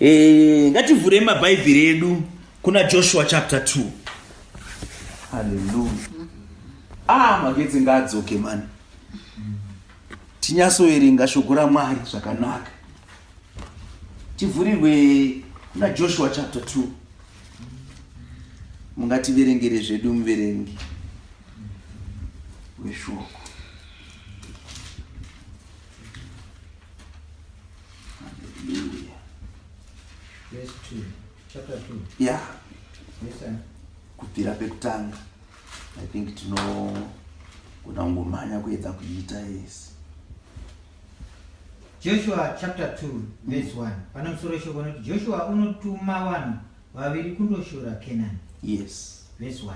Eh, ngativhurei mabhaibheri edu kuna joshua chapter 2 haleluya ah magetsi ngaadzoke mani tinyasoerenga shoko ramwari zvakanaka tivhurirwe kuna joshua chapter 2 mungativerengere zvedu muverengi weshoko ya kubvira pekutanga i think tinogona kungomhanya kuedza kuiita yese joshua chapter 2 verse 1 pana musoro shoko noti joshua unotuma vanhu vaviri kundoshora kenani yes verse 1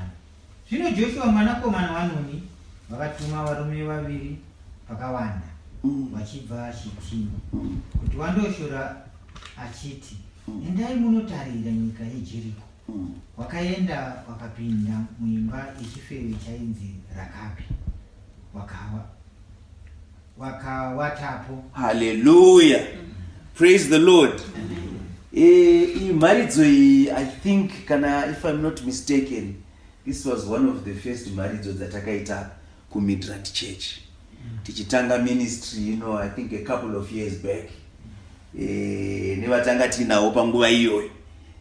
Zvino Joshua mwanakomana waNuni vakatuma varume vaviri vakawanda mm. vachibva Shitimu mm. kuti wandoshora achiti, mm. endai munotarira nyika yeJeriko. Wakaenda wakapinda muimba yechifeve chainzi Rakabi, wakawa wakawatapo. Hallelujah. Praise the Lord. Eh, iyi mharidzo iyi I think kana if I'm not mistaken this was one of the first mharidzo dzatakaita kuMidrand Church. Mm. Tichitanga ministry, you know, I think a couple of years back. Eh, nevatanga tinawo panguva iyoyo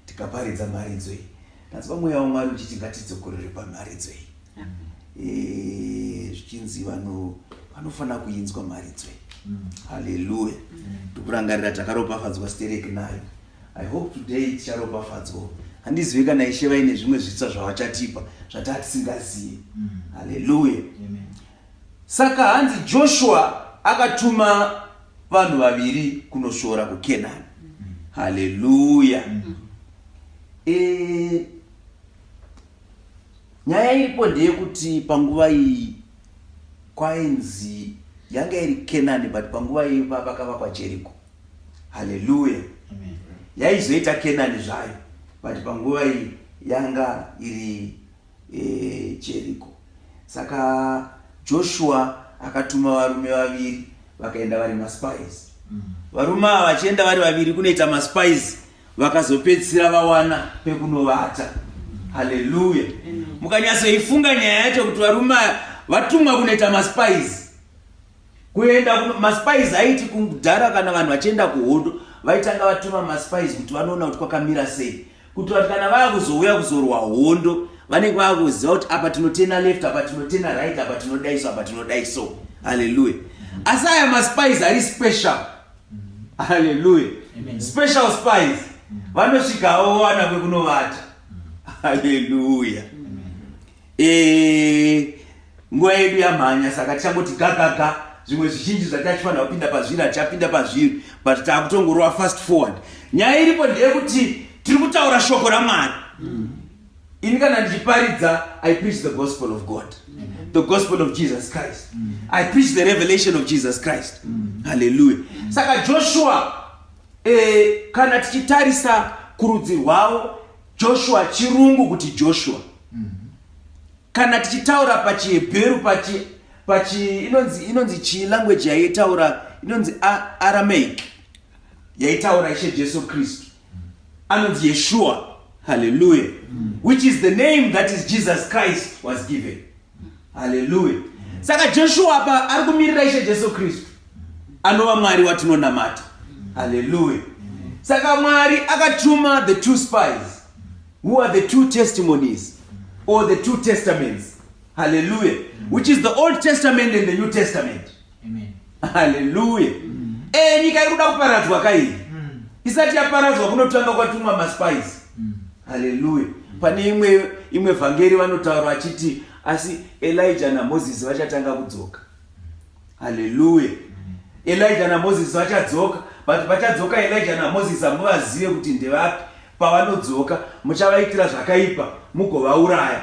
tikaparidza mharidzo iyi. Ndanzwa mweya waMwari uchiti ngatidzokorere pamharidzo iyi. Eh, zvichinzi vano vanofanira kuinzwa mharidzo iyi. Hallelujah. Tikurangarira takaropafadzwa sterek nayo. I hope today ticharopafadzwa. Handizivi kana Ishe vaine zvimwe zvitsa zvavachatipa zvatatisingazivi. Hallelujah. Amen. Saka hanzi Joshua akatuma vanhu vaviri kunosvora kuKenani. Mm. Haleluya. Mm. E, nyaya iripo ndeyekuti panguva iyi kwainzi yanga iri Kenani but panguva iyi vakavakwa Jeriko. Haleluya. Yaizoita Kenani zvayo but panguva iyi yanga iri ejeriko saka joshua akatuma varume vaviri vakaenda vari maspies mm. varume ava vachienda vari vaviri kunoita maspies vakazopedzisira vawana pekunovata haleluya mukanyatsoifunga nyaya yacho kuti varume vatumwa kunoita maspies kuenda maspies aiti kudhara kana vanhu vachienda kuhondo vaitanga vatuma maspies kuti vanoona kuti kwakamira sei kuitira kuti kana vava kuzouya kuzorwa hondo vanenge vava kuziva kuti apa tinotena left apa tinotena right apa tinodai so apa tinodai so halleluya asi aya maspies ari special halleluya special spies vanosvikawo wana kwekunovata halleluya Eh, nguva yedu yamhanya saka tichangoti gagaga zvimwe zvizhinji zvatatifanira kupinda pazviri hatichapinda pazviri but takutongorova fast forward nyaya iripo ndeyekuti tiri kutaura shoko ramwari mm. ini kana ndichiparidza i preach the gospel of god mm. the gospel of jesus christ mm. i preach the revelation of jesus christ mm. halleluya mm. saka joshua eh, kana tichitarisa kurudzi rwavo joshua chirungu kuti joshua kana tichitaura pachihebheru pachi pachi inonzi inonzi chii language yaitaura inonzi aramaic yaitaura ishe jesu kristu anonzi yeshua haleluya mm. which is the name that is jesus christ was given haleluya mm. saka jeshua apa ari kumirira ishe jesu kristu anova mwari watinonamata haleluya mm. saka mwari akatuma the two spies Who are the two testimonies or the two testaments? Hallelujah. Mm. Which is the Old Testament and the New Testament. Amen. Hallelujah. Mm. Eh, nyika iri kuda kuparadzwa kai. Mm. Isati yaparadzwa kunotanga kwatumwa maspice. Mm. Hallelujah. Mm. Pane imwe imwe vhangeri vanotaura achiti asi Elijah na Moses vachatanga kudzoka. Hallelujah. Mm. Elijah na Moses vachadzoka, but vachadzoka Elijah na Moses amuvazive kuti ndevapi. Pavanodzoka muchavaitira zvakaipa mugovauraya.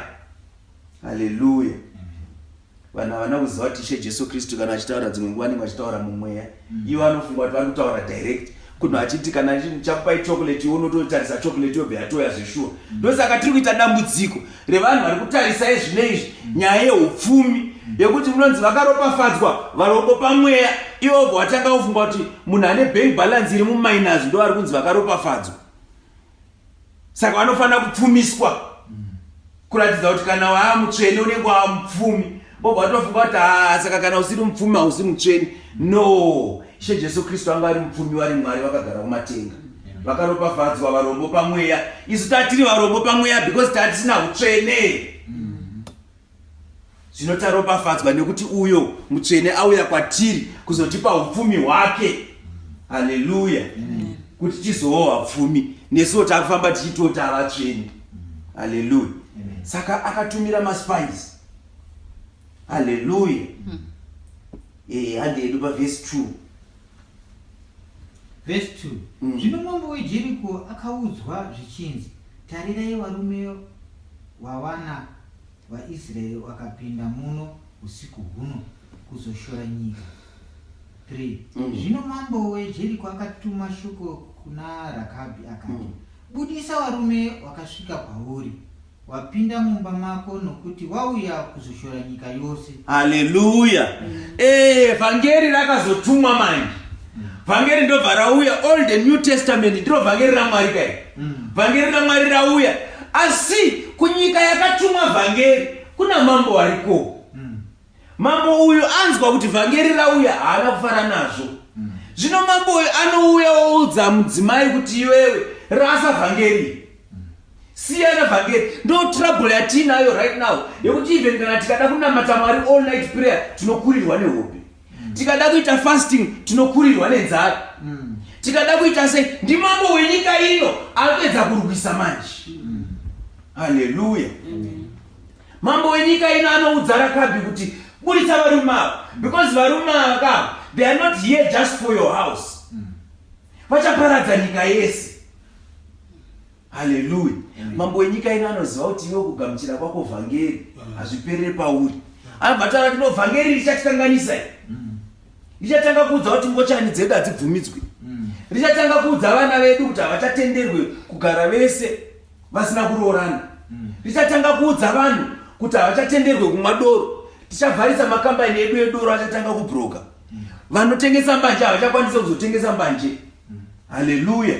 Haleluya. Vanhu havana kuziva kuti Ishe Jesu Kristu kana achitaura dzimwe nguva anenge achitaura mumweya. Mm. Ivo anofunga kuti vari kutaura direct kunhu achiti kana chakupai chocolate unototarisa chocolate yobva yatoya zveshuwa mm. ndosaka tiri kuita dambudziko revanhu vari kutarisa ezvine izvi nyaya yeupfumi yekuti unonzi vakaropafadzwa varombo pamweya ivo bva watanga kufunga kuti munhu ane bank balance iri muminus ndo vari kunzi vakaropafadzwa saka vanofanira kupfumiswa kuratidza kuti kana waamutsvene unenge waamupfumi bobva watofunga kuti haa ah, saka kana usiri mupfumi hausi mutsveni no ishe jesu kristu anga ari mupfumi vari mwari vakagara kumatenga vakaropafadzwa varombo pamweya isu tatiri varombo pamweya because tatisina utsvene zvino taropafadzwa nekuti uyo mutsvene auya kwatiri kuzotipa upfumi hwake haleluya kuti tizowo vapfumi nesuwo takufamba tichitota vatsvene haleluya saka akatumira maspice haleluya hmm. eh, handi yedu pavhesi two vhesi two hmm. zvino mambo wejeriko akaudzwa zvichinzi tarirai varume wawana vaisraeri wakapinda muno usiku huno kuzoshora nyika three hmm. zvino mambo wejeriko akatuma shoko kuna rakabhi akati budisa varume wakasvika kwauri Wapinda mumba mako nokuti wauya kuzoshora nyika yose. Haleluya. Eh, vhangeri rakazotumwa manje. Vhangeri ndobva rauya Old and New Testament ndiro vhangeri raMwari kai. Mm. Vhangeri raMwari rauya asi kunyika yakatumwa vhangeri kuna mambo wariko. Mambo uyu anzwa kuti vhangeri rauya haana kufara nazvo. Mm. Zvino mambo uyu anouya oudza mudzimai kuti iwewe rasa vhangeri. Mm. Siyana vhangeri. Ndo trouble yatiinayo right now yekuti even kana tikada kunamata Mwari all night prayer tinokurirwa nehope. Mm. Tikada kuita fasting tinokurirwa nenzara. Mm. Tikada kuita sei ndi mambo wenyika ino anopedza kurwisa manje. Mm. Hallelujah. Mm. Mambo wenyika ino anoudza Rakabi kuti buritsa varume ava because varume ava ka they are not here just for your house. Mm. Vachaparadza nyika yese. Hallelujah. Mm. Mambo wenyika ino anoziva kuti iwe kugamuchira kwako vhangeri mm. hazviperere pauri. Anobva taura kuti no vhangeri richatikanganisa iri. Richatanga kuudza kuti ngochani dzedu hadzibvumidzwi. Richatanga kuudza vana vedu kuti havachatenderwe kugara vese. vasina kuroorana tichatanga kuudza vanhu kuti havachatenderwe kumwa doro tichavharisa makambani edu edoro achatanga kubroka vanotengesa mbanje havachakwanisa kuzotengesa mbanje haleluya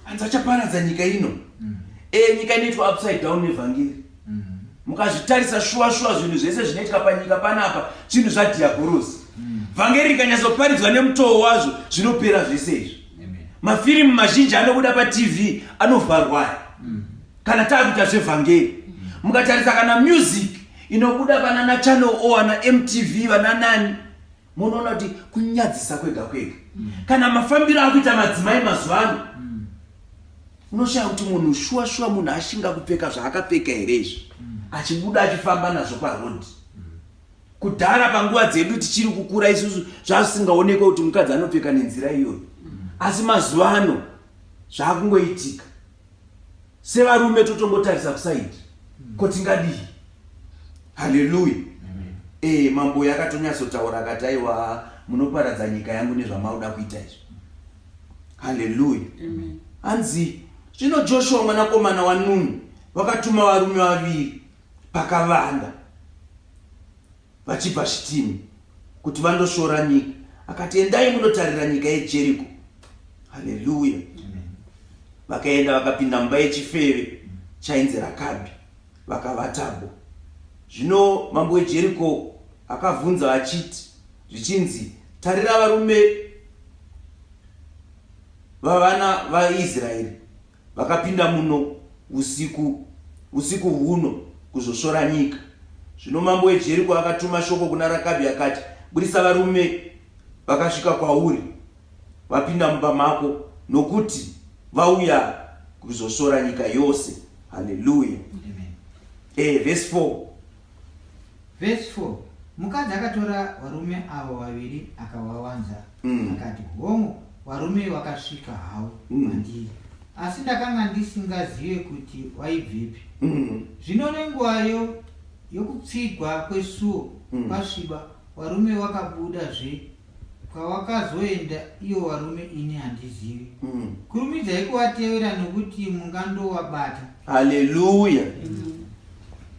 hanzi vachaparadza nyika ino mm. e nyika inoitwa upside down nevhangeri mm. mukazvitarisa shuwa shuwa zvinhu zvese zvinoitika panyika panapa zvinhu zvadhiabhorosi mm. vhangeri rikanyazoparidzwa nemutoo wazvo zvinopera zvese izvi mafirimu mazhinji anobuda patv anovharwa aya mm. kana taakuita zvevhangeri mm. mukatarisa kana music inobuda vanana channel o ana mtv vananani munoona kuti kunyadzisa kwega kwega mm. kana mafambiro akuita madzimai mazuva ano unoshaya kuti munhu shuwa shuwa munhu ashinga kupfeka zvaakapfeka here izvi achibuda achifamba nazvo parodi kudhara panguva dzedu tichiri kukura isusu zvazvisingaonekwe kuti mukadzi anopfeka nenzira iyoyo asi mazuva ano zvaakungoitika sevarume totongotarisa kusaidi ko tingadii haleluya ee eh, mambo yakatonyatsotaura akati aiwa munoparadza nyika yangu nezvamauda kuita izvo haleluya hanzi zvino joshua mwanakomana wanuni vakatuma varume vaviri pakavanda vachibva shitimu kuti vandoshora nyika akati endai munotarira nyika yejeriko haleluya vakaenda vakapinda mumba yechifeve chainzi rakabi vakavatabo zvino mambo wejeriko akavhunza achiti zvichinzi tarira varume vavana vaisraeri vakapinda muno usiku usiku huno kuzosvora nyika. Zvino mambo weJeriko akatuma shoko kuna Rakabhi akati, Budisa varume vakasvika kwauri vapinda mumba mako, nokuti vauya kuzosvora nyika yose. Haleluya! Eh, verse 4 Verse 4 mukadzi akatora varume avo vaviri akavawanza mm. akati hongu varume vakasvika havo mm. mandiri asi ndakanga ndisingazive kuti waibvepi mm. zvino nenguvayo yokupfigwa kwesuo mm. kwasviba varume vakabudazve kwawakazoenda iyo varume ini handizivi mm. kurumidzai kuvatevera nokuti mungandovabata haleluya mm.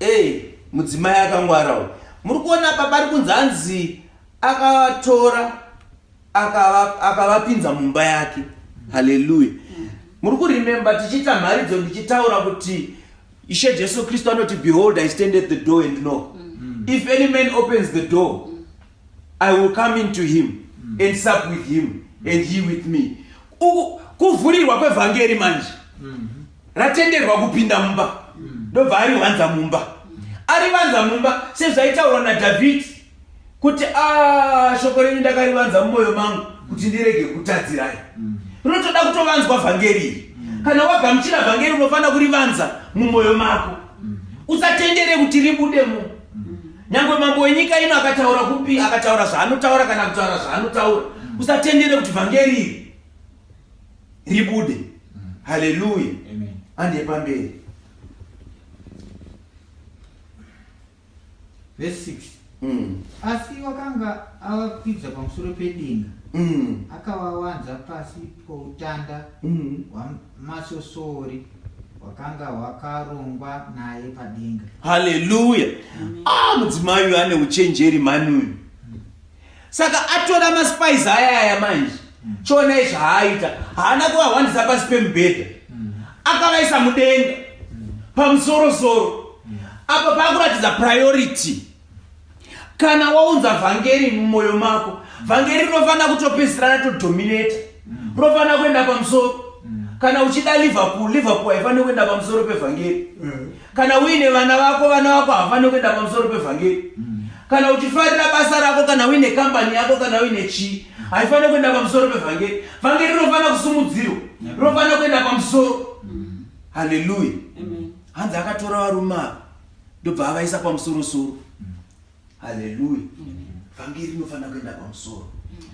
ey eh, mudzimai akangwara uyu muri kuona apa pari kunzi anzi akatora akavapinza aka mumba yake haleluya mm. muri kurememba tichiita mharidzo ndichitaura kuti ishe jesu kristu anoti behold i stand at the door and know mm. if any man opens the door mm. I will come into him mm. and sup with him mm. and he with me. Kuvhurirwa kwevhangeri manje mm -hmm. ratenderwa kupinda mumba mm. ndobva ari wanza mumba mm. ari vanza mumba sezvaitaurwa naDhavhidhi kuti ah, shoko renyu ndakarivanza mumwoyo mangu kuti ndirege kutadzirai mm. rinotoda kutovanzwa vhangeri iri mm. kana wagamuchira vhangeri unofanira kurivanza mumwoyo mako mm. usatendere kuti ribude mu Nyangwe mambo wenyika ino akataura kupi akataura zvaanotaura kana kutaura zvaanotaura. Usatendere kuti vhangeri iri ribude. Haleluya. Amen. Ande pamberi. Verse 6. Mm. Asi wakanga avakwidza pamusoro pedenga. Mm. Akawawanza pasi poutanda mm. hwaMwari. masvosvori hwakanga hwakarongwa naye padenga haleluya ah mudzimai uyu ane uchenjeri mani uyu saka atora maspais aya aya manje mm. chionai zvaaita haana kuvahwandisa pasi pemubhedha mm. akavaisa mudenga mm. pamusorosoro apa paakuratidza priority kana waunza vhangeri mumwoyo mako vhangeri rinofanira kutopedzisira ratodominata mm. rinofanira kuenda pamusoro mm. kana uchida liverpool liverpool haifaniri kuenda pamusoro pevhangeri mm. kana uine vana vako vana vako havafaniri kuenda pamusoro pevhangeri kana uchifarira basa rako kana uine kambani yako kana uine chii haifaniri kuenda pamusoro pevhangeri vhangeri rinofanira kusumudzirwa rinofanira kuenda pamusoro haleluya hanzi akatora varume ava ndobva avaisa pamusoro soro haleluya vhangeri inofanira kuenda pamusoro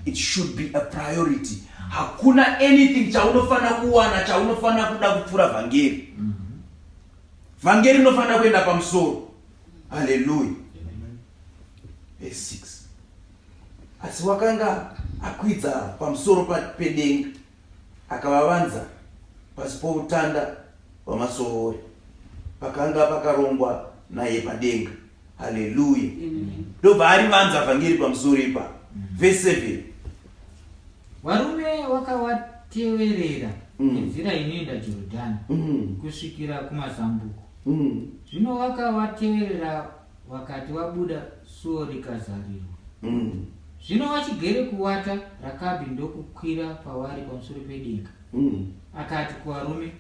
it should be a priority hakuna anything chaunofanira kuwana chaunofanira kuda kupfuura vhangeri vhangeri inofanira kuenda pamusoro haleluya asi wakanga akwidza pamusoro pedenga Akavavanza pasi poutanda hwamasovori pakanga pakarongwa naye padenga. Haleluya! Ndobva arivanza vhangeri pamusoro ipa mm. vese 7 varume wakawateverera mm. nenzira inoenda Jorodhani mm. kusvikira kumazambuko. Zvino wakawateverera wakati wabuda suo rikazarirwa mm. zvino wachigere kuwata rakabhi ndokukwira pavari pamusoro pedenga mm. akati kuvarume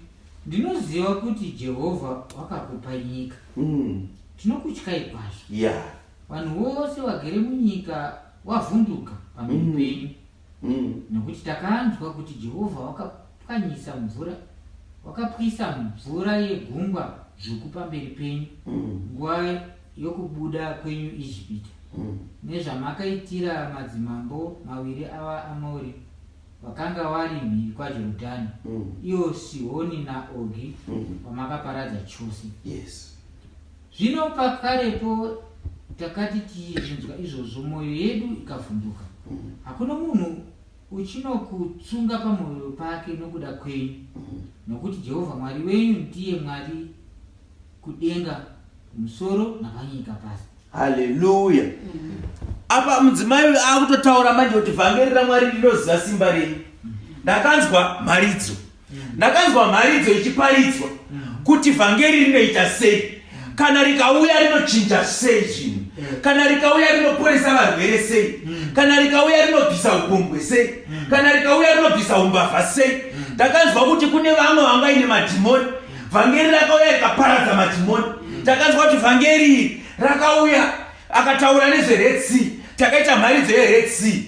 ndinoziva kuti jehovha wakakupa nyika mm. tinokutyai kwazvo yeah. vanhu vose vagere munyika wavhunduka pamhiri mm. penyu mm. Mm. Nokuti takanzwa kuti Jehovha wakapwanyisa mvura, wakapwisa mvura yegungwa dzvuku pamberi penyu mm. nguva mm. yokubuda kwenyu Ijipita, mm. nezvamakaitira madzimambo maviri ava Amori vakanga vari mhiri kwaJorodhani, mm. iyo Sihoni naOgi, mm. vamakaparadza chose. Yes. Zvino pakarepo takati tichinzwa izvozvo, mwoyo yedu ikavhunduka. Hakuna munhu uchinokutsunga pamwoyo pake nokuda kwenyu, nokuti Jehovha Mwari wenyu ndiye Mwari kudenga kumusoro napanyika pasi. Haleluya! Apa mudzimai uyu akutotaura manje kuti vhangeri raMwari rinoziva simba renyu. Ndakanzwa mharidzo. Ndakanzwa mharidzo ichiparidzwa kuti vhangeri rinoita sei kana rikauya rinochinja sei zvinhu kana rikauya rinoporesa varwere sei kana rikauya rinobvisa upombwe sei kana rikauya rinobvisa umbavha sei ndakanzwa kuti kune vamwe vangaine madhimoni vhangeri rakauya rikaparadza madhimoni ndakanzwa kuti vhangeri rakauya akataura nezvered sea takaita mharidzo yered sea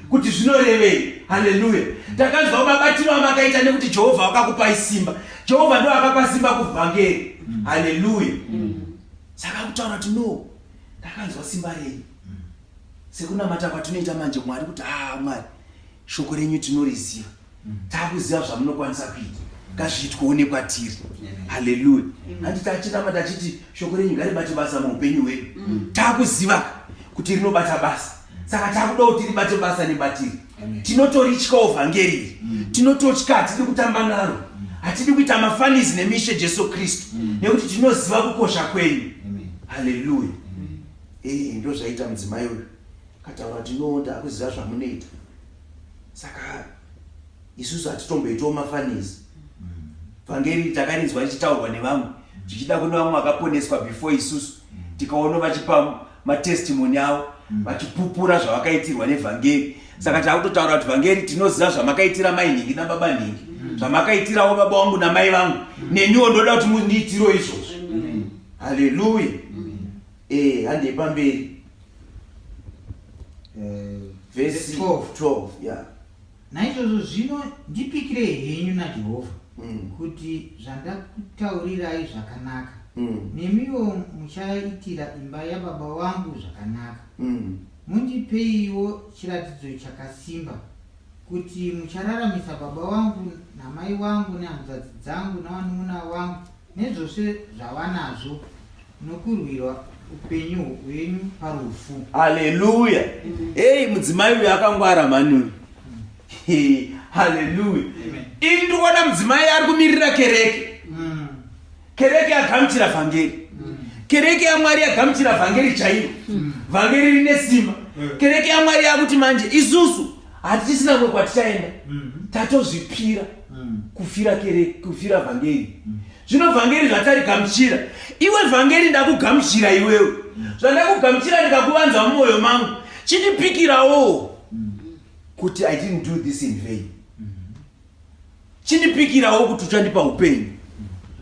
kuti zvinorevei haleluya takanzwa mabatiro amakaita nekuti jehovha wakakupai simba jehovha ndo akapa simba kuvhangeri haleluya saka kutaura kuti no ndakanzwa simba renyu sekunamata kwatinoita manje mwari kuti haa ah, mwari shoko renyu tinoriziva takuziva zvamunokwanisa kuita ngazviitweone kwatiri haleluya handi tachiramba tachiti shoko renyu ngaribate basa muupenyu hwedu mm. takuziva kuti rinobata basa saka takuda kuti ribate basa nebatiri tinotorityawo vhangeriri mm. tinototya hatidi kutamba naro mm. hatidi kuita mafanizi nemishe jesu kristu nekuti tinoziva kukosha kwenyu haleluya eh, ndo zvaita mudzimai uyu kataura tinoonda akuziva zvamunoita saka isusu hatitomboitawo mafanizi vhangeri mm. takarinzwa richitaurwa nevamwe zvichida kune vamwe vakaponeswa before isusu tikaona vachipa matestimoni avo mm. vachipupura zvavakaitirwa nevhangeri saka takutotaura kuti vhangeri tinoziva zvamakaitira mai nhingi nababa nhingi mm. zvamakaitirawo baba wangu namai vangu neniwo ndoda kuti mundiitiro izvozvo haleluya Eh, handei pamberi. Eh, vhesi 12 ya naizvozvo zvino ndipikire henyu najehovha mm. kuti zvandakutaurirai zvakanaka mm. nemiwo muchaitira imba yababa wangu zvakanaka mm. mundipeiwo chiratidzo chakasimba kuti muchararamisa baba wangu namai wangu nehanzvadzi dzangu navanun'una wangu nezvose zvavanazvo nokurwirwa upenyu hwenyu parufu haleluya heyi mudzimai uyu akangwara mhani uyu haleluya ini ndikuona mudzimai ari kumirira kereke mm. kereke yagamuchira vhangeri mm. kereke yamwari yagamuchira vhangeri chaiyo mm. vhangeri rine simba kereke yamwari yakuti manje isusu hatisina kumwe kwatichaenda mm. tatozvipira mm. kufira kere kufira vhangeri mm. zvino vhangeri zvatarigamuchira iwe vhangeri ndakugamuchira iwewe zvandakugamuchira ndikakuvanza mumwoyo mangu chindipikirawo kuti i didn't do this in vain chindipikirawo kuti uchandipa upenyu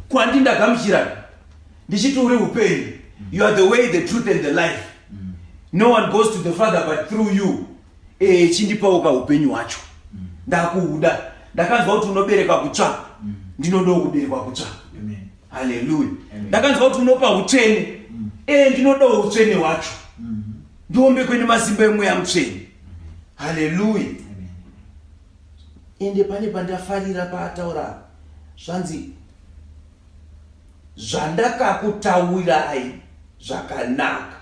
kwandi ndagamuchiraka ndichiti uri upenyu you are the way the truth and the life no one goes to the father but through you eh chindipawo ka upenyu wacho mm. ndakuuda ndakanzwa kuti unobereka kutsva mm. ndinodawo kuberekwa kutsva haleluya ndakanzwa kuti unopa utsvene mm. eh ndinodawo utsvene wacho mm-hmm. ndiombe kwene masimba emweya mutsvene haleluya ende pane pandafarira paataura zvanzi zvandakakutaurai zvakanaka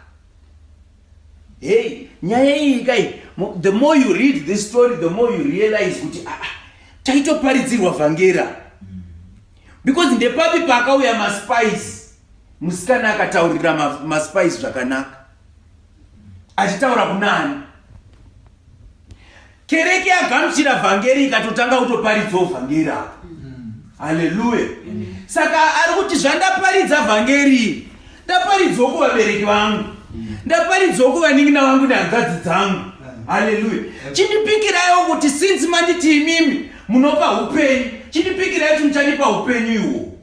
Hey, nyaya iyi kai the more you read this story the more you realize kuti ah, ah taitoparidzirwa vhangera because ndepapi paakauya maspice musikana akataurira maspice zvakanaka achitaura kunani kereke yagamuchira vhangeri ikatotanga kutoparidzawo vhangeri apo haleluya saka ari kuti zvandaparidza vhangeri ndaparidzawo kuvabereki vangu ndaparidzawo kuvanin'ina vangu nehanzvadzi dzangu haleluya chindipikirayo kuti sinzi manditi imimi munopa upenyu chindipikirayo kuti muchandipa upenyu iwo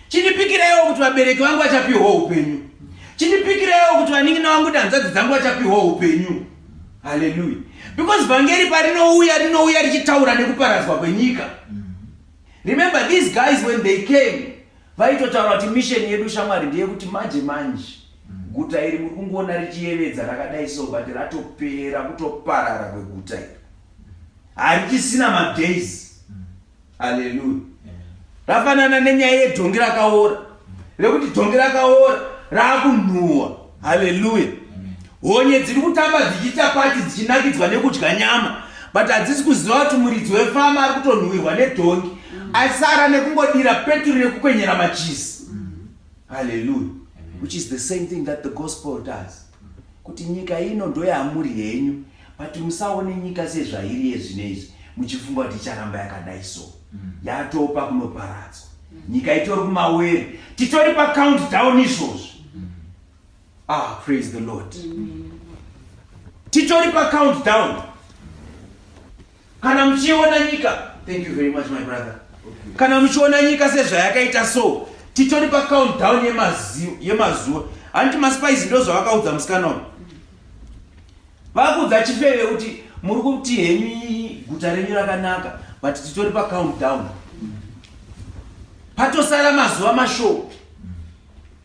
Chindipikireiwo kuti vabereki vangu vachapihwa upenyu. Chindipikireiwo kuti vanin'ina vangu nehanzvadzi dzangu vachapihwa upenyu. Haleluya. Because vhangeri parinouya rinouya richitaura nekuparadzwa kwenyika. Remember these guys when they came vaitotaura kuti mission yedu shamwari ndeyekuti manje manje guta iri muri kungoona richiyevedza rakadai so but ratopera kutoparara kweguta iri harichisina madays aleluya rafanana nenyaya yedhongi rakaora rekuti dhongi rakaora raakunhuwa haleluya honye dziri kutamba dzichiita pati dzichinakidzwa nekudya nyama but hadzisi kuziva kuti muridzi wefama ari kutonhuwirwa nedhongi asara nekungodira peturu nekukwenyera machisi haleluya which is the same thing that the gospel does kuti nyika ino ndoyamuri henyu but musaone nyika sezvairi yezvino izvi muchifunga kuti icharamba yakadai so mm. yatopa kunoparadzwa mm. nyika itori kumawere titori pacount down izvozvo mm. ah praise the lord titori pacount down kana muchiona nyika thank you very much my brother kana muchiona nyika sezvayakaita so titori pacountdown yemazuva hanti maspice ndo zvavakaudza musikana uyu vakuudza chifeve kuti muri kuti henyu guta renyu rakanaka but titori pacountdown patosara mazuva mashoo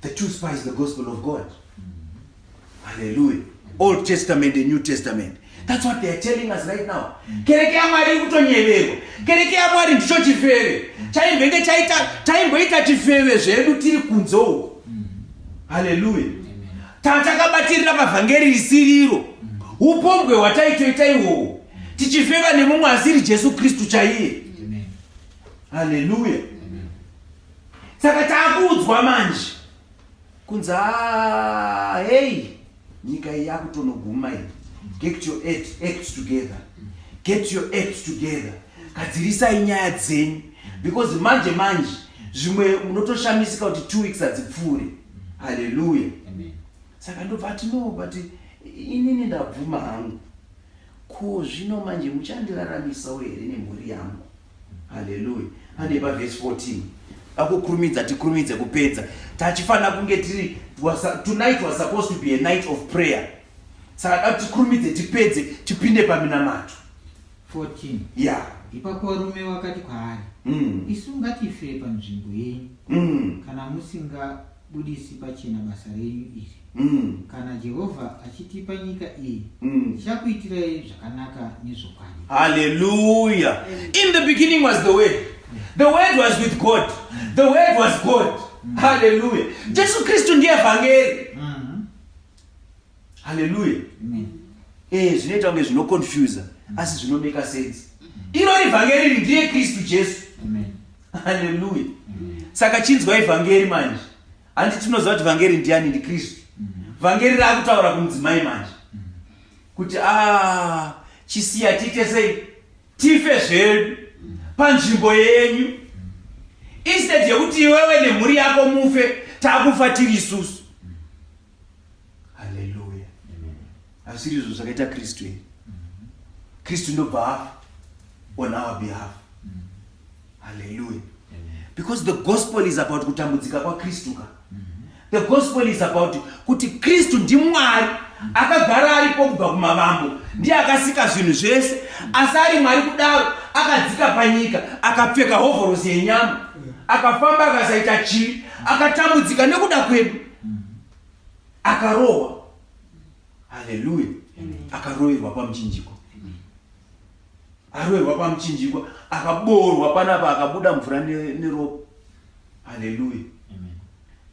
The true spy is the gospel of God. Mm-hmm. Hallelujah. Old Testament and New Testament. That's what they are telling us right now. Mm-hmm. Kereke ya Mwari kutonyeverwa. Kereke ya Mwari ndicho chifeve. Mm-hmm. Chaimbenge chaita taimboita chifeve zvedu tiri kunze uko. Hallelujah. Tatakabatirira mavhangeri risiriro. Upombwe hwataitoita iwowo. Tichifeva nemumwe asiri Jesu Kristu chaiye. Hallelujah. saka takuudzwa manje kunzi ah, hey nyika iyi yakutonoguma iyi get your act together get your act together gadzirisai nyaya dzenyu because manje manje zvimwe unotoshamisika kuti two weeks hadzipfuure haleluya saka ndobva ati no but inini ndabvuma hangu ko zvino manje muchandiraramisawo here nemhuri yangu haleluya pane pavhesi 14 akukurumidza tikurumidze kupedza tachifanira kunge tiri tonight was supposed to be a night of prayer saka da tikurumidze tipedze tipinde paminamato 14 ya ipapo varume vakati kwaari mm. isu ngatifire panzvimbo yenyu mm. kana musinga budisi pachena basa renyu iri mm. kana jehovha achitipa nyika iyi mm. tichakuitirai zvakanaka nezvokwadi haleluya in the beginning was the word the word was with god the word was god mm. haleluya jesu kristu ndiye vhangeri haleluya eh zvinoita kunge zvinoconfusa asi zvinomeka sense iro ivhangeri ndiye kristu jesu haleluya saka chinzwa ivhangeri manje handi tinoziva kuti vhangeri ndiani ndikristu vhangeri raakutaura kumudzimai manje kuti a ah, chisiya tiite sei tife zvedu panzvimbo yenyu instead yekuti iwewe nemhuri yako mufe takufa tiri isusu haleluya asiri izvo zvakaita kristu here kristu ndobva afa on our behalf Hallelujah. Because the gospel is about kutambudzika kwa Kristu ka. Mm -hmm. The gospel is about kuti Kristu ndi Mwari akagara aripo kubva kumavambo ndiye akasika zvinhu zvese asi ari mwari kudaro akadzika panyika akapfeka hovhorosi yenyama akafamba akasaita chivi akatambudzika nekuda kwedu akarohwa haleluya akaroverwa pamuchinjiko aroerwa pamuchinjikwa akaboorwa panapa akabuda mvura neropa haleluya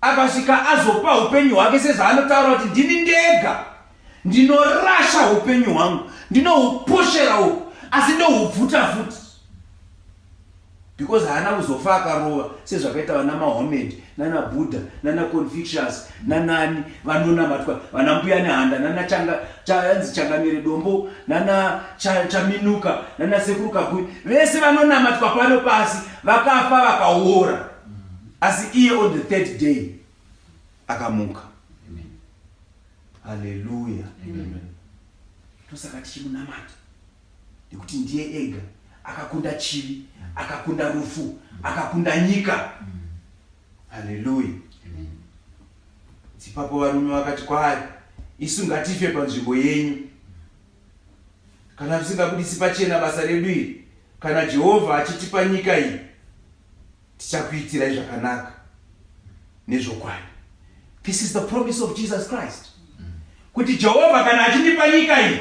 akasvika azopa upenyu hwake sezvaanotaura kuti ndini ndega ndinorasha upenyu hwangu ndinohuposhera uku asi ndohubvuta futi because haana kuzofa akarova sezvakaita vana mahomed nana buddha nana confucius nanani vanonamatwa vana mbuya nehanda nana changa chanzi changamire dombo nana chaminuka nana sekuru kakui vese vanonamatwa pano pasi vakafa vakaora asi iye on the third day akamuka haleluya tosaka tichimunamata nekuti ndiye ega akakunda chivi akakunda rufu akakunda nyika haleluya dzipapo varume vakati kwaari isu ngatife panzvimbo yenyu kana tisingabudisi pachena basa redu iri kana jehovha achitipa nyika iyi tichakuitirai zvakanaka nezvokwadi this is the promise of jesus christ kuti jehovha kana achindipa nyika iyi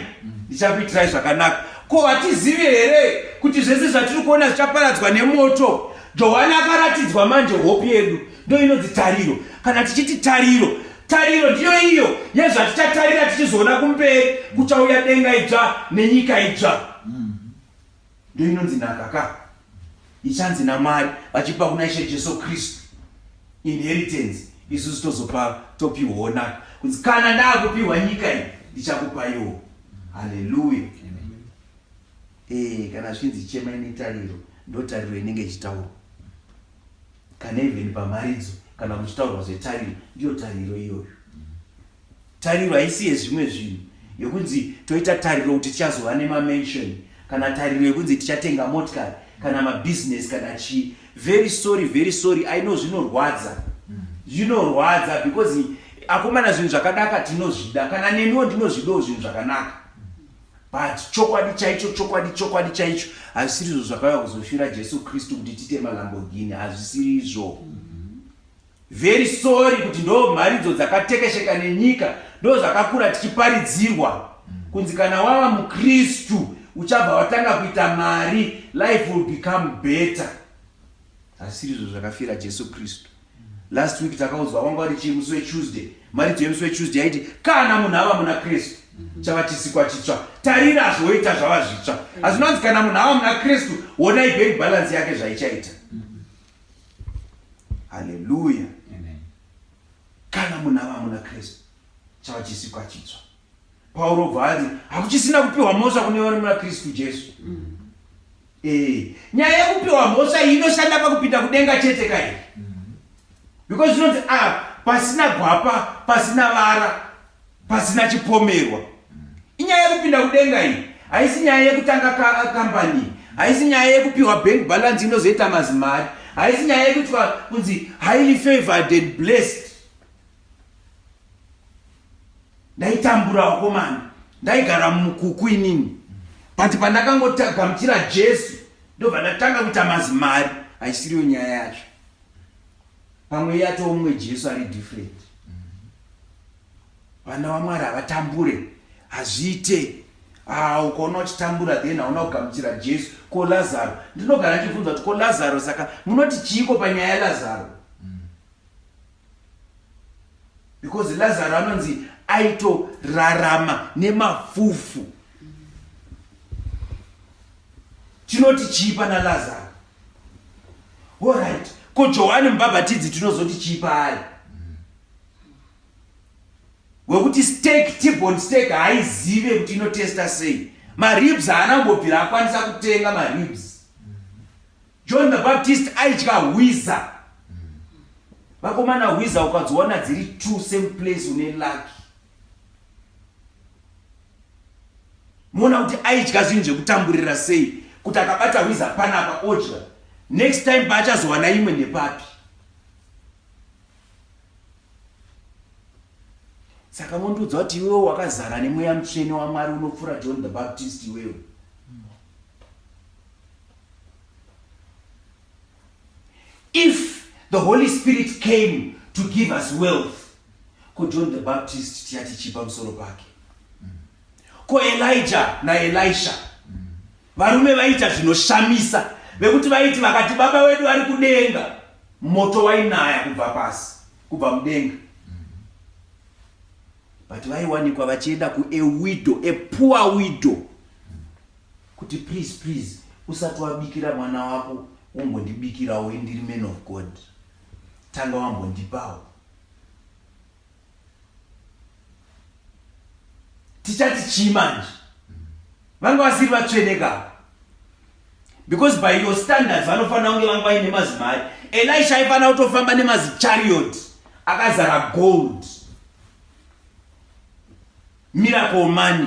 ndichakuitirai zvakanaka ko hatizivi here kuti zvese zvatiri kuona zvichaparadzwa nemoto johani akaratidzwa manje hope yedu ndo inonzi tariro kana tichiti tariro tariro ndiyo iyo yezvatichatarira tichizoona kumberi kuchauya denga idzva nenyika idzva mm. ndiyo inonzi nhaka ka ichanzi namwari vachipa kuna ishe jesu kristu inheritance isusu tozopa topiwawo naka kunzi kana ndaakupiwa nyika iyi ndichakupaiwo haleluya ee eh, kana zvichinzi chema ine tariro ndotariro inenge ichitaurwa Kana even pamharidzo kana kuchitaurwa zvetariro, ndiyo tariro iyoyo. Tariro haisi yezvimwe zvinhu yokunzi toita tariro kuti tichazova nemamension kana tariro yokunzi tichatenga motikari kana mabusiness kana chii. Very sorry, very sorry, I know zvinorwadza, zvinorwadza because akomana zvinhu zvakadaka tinozvida, kana neniwo ndinozvidawo zvinhu zvakanaka. but chokwadi chaicho chokwadi chokwadi chaicho hazvisiri izvo zvakauya kuzofira jesu kristu kuti tiite malambogini hazvisiri izvo very sorry kuti ndo mharidzo dzakatekesheka nenyika ndo zvakakura tichiparidzirwa kunzi kana wava mukristu uchabva watanga kuita mari life will become better hazvisiri izvo zvakafira jesu kristu last week takaudzwa wanga wari chii musi wetuesday mharidzo yemusi wetuesday yaiti kana munhu ava muna kristu mhm. chava chisikwa chitsva tarira zvoita zvava zvitsva mhm. asi unonzi kana munhu ava muna kristu honai bank balance yake zvaichaita mhm. haleluya kana munhu ava muna kristu chava chisikwa chitsva Pauro obva anzi hakuchisina kupiwa mhosva kune vari muna Kristu Jesu. Mm. Eh, nyaya yekupiwa mhosva iyi inoshanda pakupinda kudenga chete kai mm. because zvinonzi a ah, pasina gwapa pasina vara pasina chipomerwa mm. inyaya yekupinda kudenga iyi haisi nyaya yekutanga kambani haisi nyaya yekupiwa bank balance inozoita mazimari haisi nyaya yekuitwa kunzi highly favored and blessed ndaitambura wakomana ndaigara mumukuku inini but pandakangotagamuchira jesu ndobva ndatanga kuita mazimari haisiriyo nyaya yacho pamwe yatoo mumwe jesu ari different vana vamwari havatambure hazviite ah, ukaona uchitambura then hauna kugamuchira jesu ko lazaro ndinogara ndichibvunza kuti ko lazaro saka munoti chiiko panyaya yalazaro because lazaro anonzi aitorarama nemafufu chinoti chii pana lazaro orit ko johani mubhabhatidzi tinozoti chii paari wekuti stake tibon stake haizive kuti inotesta sei maribs haana kumbobvira akwanisa kutenga maribs John the Baptist aidya hwiza. Vakomana hwiza ukadziwana dziri two same place une lucky. Muona kuti aidya zvinhu zvekutamburira sei kuti akabata hwiza panapa odya. Next time paachazowana imwe nepapi. Saka mondiudza kuti iwewe wakazara nemweya mutsvene waMwari unopfura John the Baptist iwewe. If the Holy Spirit came to give us wealth, ko John the Baptist tiyati chipa musoro pake. Ko Elijah na Elisha varume vaita zvinoshamisa vekuti vaiti vakati baba wedu vari kudenga moto wainaya kubva pasi kubva mudenga but vaiwanikwa vachienda kuewidow epoor widow kuti please please usati wabikira mwana wako umbondibikirawo indiri man of god tanga wambondipawo tichati chii manje vanga vasiri vatsveneka because by your standards vanofanira kunge vanga vaine mazimari elisha aifanira kutofamba nemazichariot akazara gold miracle money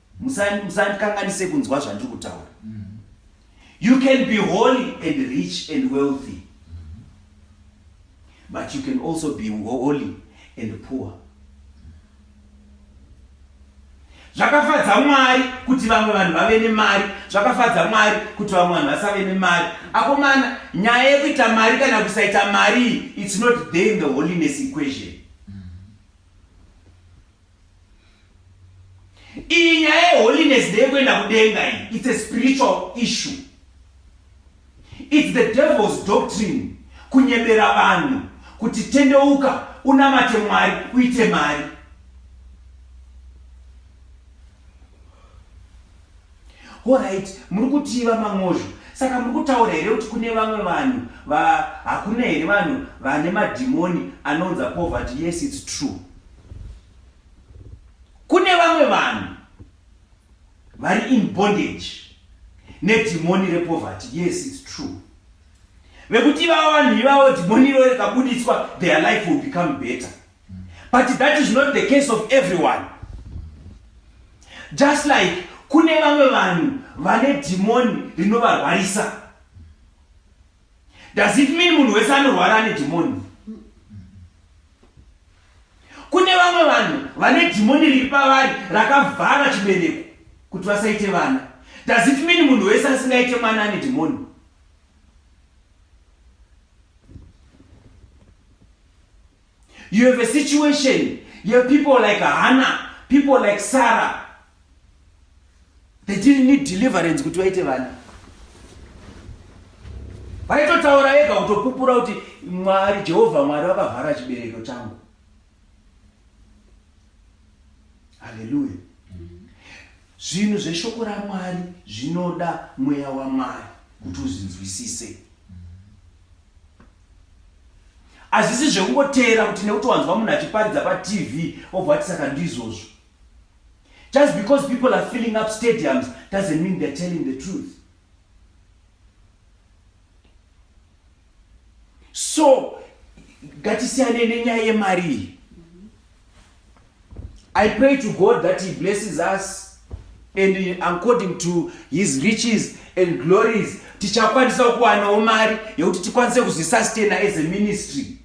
musandikanganise kunzwa zvandiri kutaura you can be holy and rich and wealthy but you can also be holy and poor zvakafadza mwari kuti vamwe vanhu vave nemari zvakafadza mwari kuti vamwe vanhu vasave nemari akomana nyaya yekuita mari kana kusaita mari its not there in the holiness equation iyi nyaya yeholiness ndeyekuenda kudenga iyi its a spiritual issue its the devil's doctrine kunyebera vanhu kuti tendeuka unamate mwari uite mari Horaiti, muri kutii vaMangozho? Saka muri kutaura here kuti kune vamwe vanhu va hakuna here vanhu vane madhimoni anonza poverty? Yes, it's true. Kune vamwe vanhu vari in bondage nedhimoni repoverty. Yes, it's true. Vekuti ivavo vanhu ivavo dhimoni iro rikabuditswa, their life will become better. but that is not the case of everyone just like kune vamwe vanhu vane dhimoni rinovarwarisa does it mean munhu wese anorwara ane dhimoni kune vamwe vanhu vane dhimoni riri pavari rakavhara chibereko kuti vasaite vana does it mean munhu wese asingaite mwana ane dhimoni You have a situation, you have people like Hannah, people like Sarah. They didn't need deliverance kuti vaite vana. Vaitotaura ega kutopupura kuti Mwari, Jehovha Mwari vakavhara chibereko changu. Hallelujah. Zvinhu zveshoko raMwari zvinoda mweya waMwari kuti uzvinzwisise. Hazvisi zvekungoteera kuti nekuti wanzwa munhu achiparidza patv obva ati saka ndizvozvo. Just because people are filling up stadiums doesn't mean they're telling the truth. So, ngatisiyanei nenyaya yemari iyi. I pray to God that he blesses us and according to his riches and glories tichakwanisa kuwanawo mari yekuti tikwanise kuzvisustena as a ministry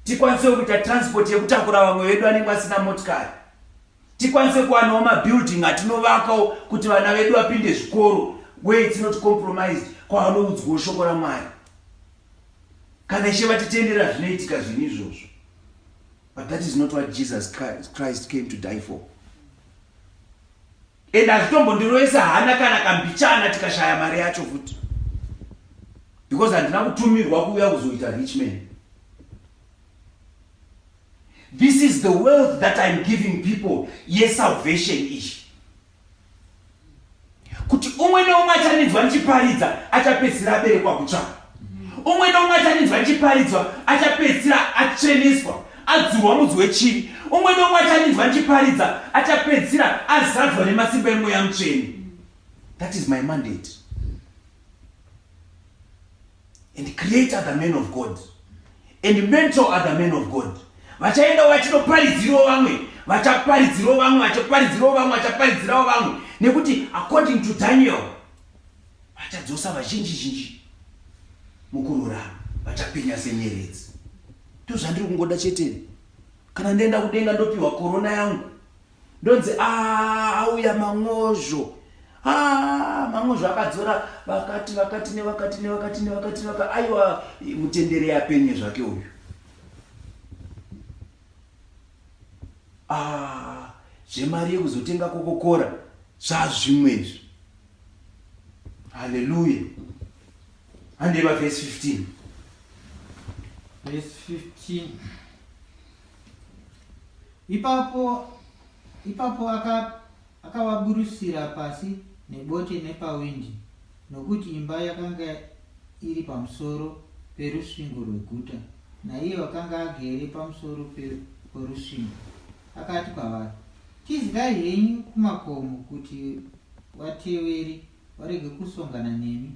tikwanise kuita transport yekutakura vamwe vedu anenge asina motikari tikwanise kuwanawo mabuilding atinovakawo kuti vana vedu vapinde zvikoro where it's not compromised kwavanoudzwawo shoko ramwari kana ishe vatitendera zvinoitika zvinhu izvozvo But that is not what Jesus Christ came to die for. And hazvitombondiroesa hana kana kambichana tikashaya mari yacho futi. Because handina kutumirwa kuuya kuzoita rich man. This is the wealth that I'm giving people. Yes, salvation ish. kuti umwe neumwe achaninzwa ndichiparidza achapedzisira aberekwa kutsva umwe neumwe achaninzwa ndichiparidzwa achapedzisira atsveneswa adzurwa mudzi wechivi umwe neumwe achaninzwa ndichiparidza achapedzisira azadzwa nemasimba emweya mutsvene that is my mandate and create other men of god and mentor other men of god vachaenda vachinoparidzirawo vamwe vachaparidzirawo vamwe vachaparidzirawo vamwe vachaparidzirawo vamwe nekuti according to daniel vachadzosa vazhinji zhinji mukururama vachapenya senyeredzi ndozvandiri kungoda cheteni kana ndoenda kudenga ndopiwa korona yangu ndonzi ah, auya man'ozvo ah, man'ozvo akadzora vakati vakati nevakati nevakati nevakati nevakati aiwa mutendere yapenye zvake uyu ah, zvemari yekuzotenga kokokora zvazvimwe izvi haleluya handei vavhesi 15 vhesi 15 Ipapo ipapo akavaburusira aka pasi nebote nepawindi, nokuti imba yakanga iri pamusoro perusvingo rweguta, naiye wakanga agere pamusoro porusvingo akati kwavari, Tizikai henyu kumakomo kuti vateveri varege kusongana nemi,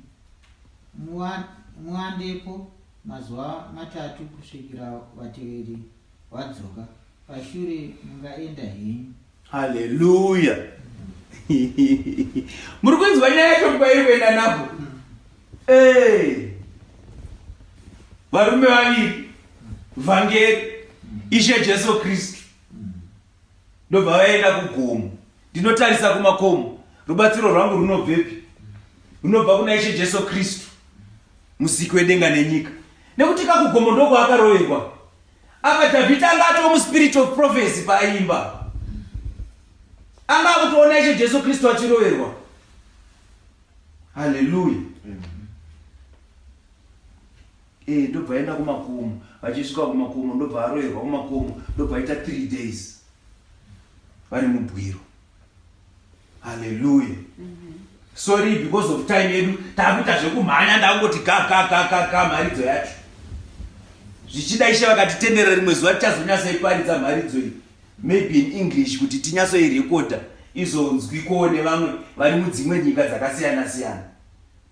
muwandepo Mazuva matatu kusvikira vateveri vadzoka, pashure mungaenda henyu. Haleluya! Muri kunzwa nyaya yacho kwairi kuenda napo? Eh. Varume vaviri, vhangeri, Ishe Jesu Kristu. ndobva vaenda kugomo ndinotarisa kumakomo rubatsiro rwangu runobvepi runobva kuna ishe jesu kristu musiki wedenga nenyika nekuti kakugomo ndokwavakaroverwa apa dhavhidhi anga atova muspirit of prophecy paaimba anga akutoona ishe jesu kristu achiroverwa halleluya Eh ndobva aenda kumakomo vachisvika kumakomo ndobva aroyerwa kumakomo ndobva aita 3 days vari mubwiro haleluya mhm. sorry because of time yedu takuita zvekumhanya ndakungoti kakakakaka mharidzo yacho zvichida ishe vakatitenderera rimwe zuva tichazonyasaiparidza mharidzo iyi maybe in english kuti tinyatsoirekoda izonzwikowo nevamwe vari mudzimwe nyika dzakasiyana siyana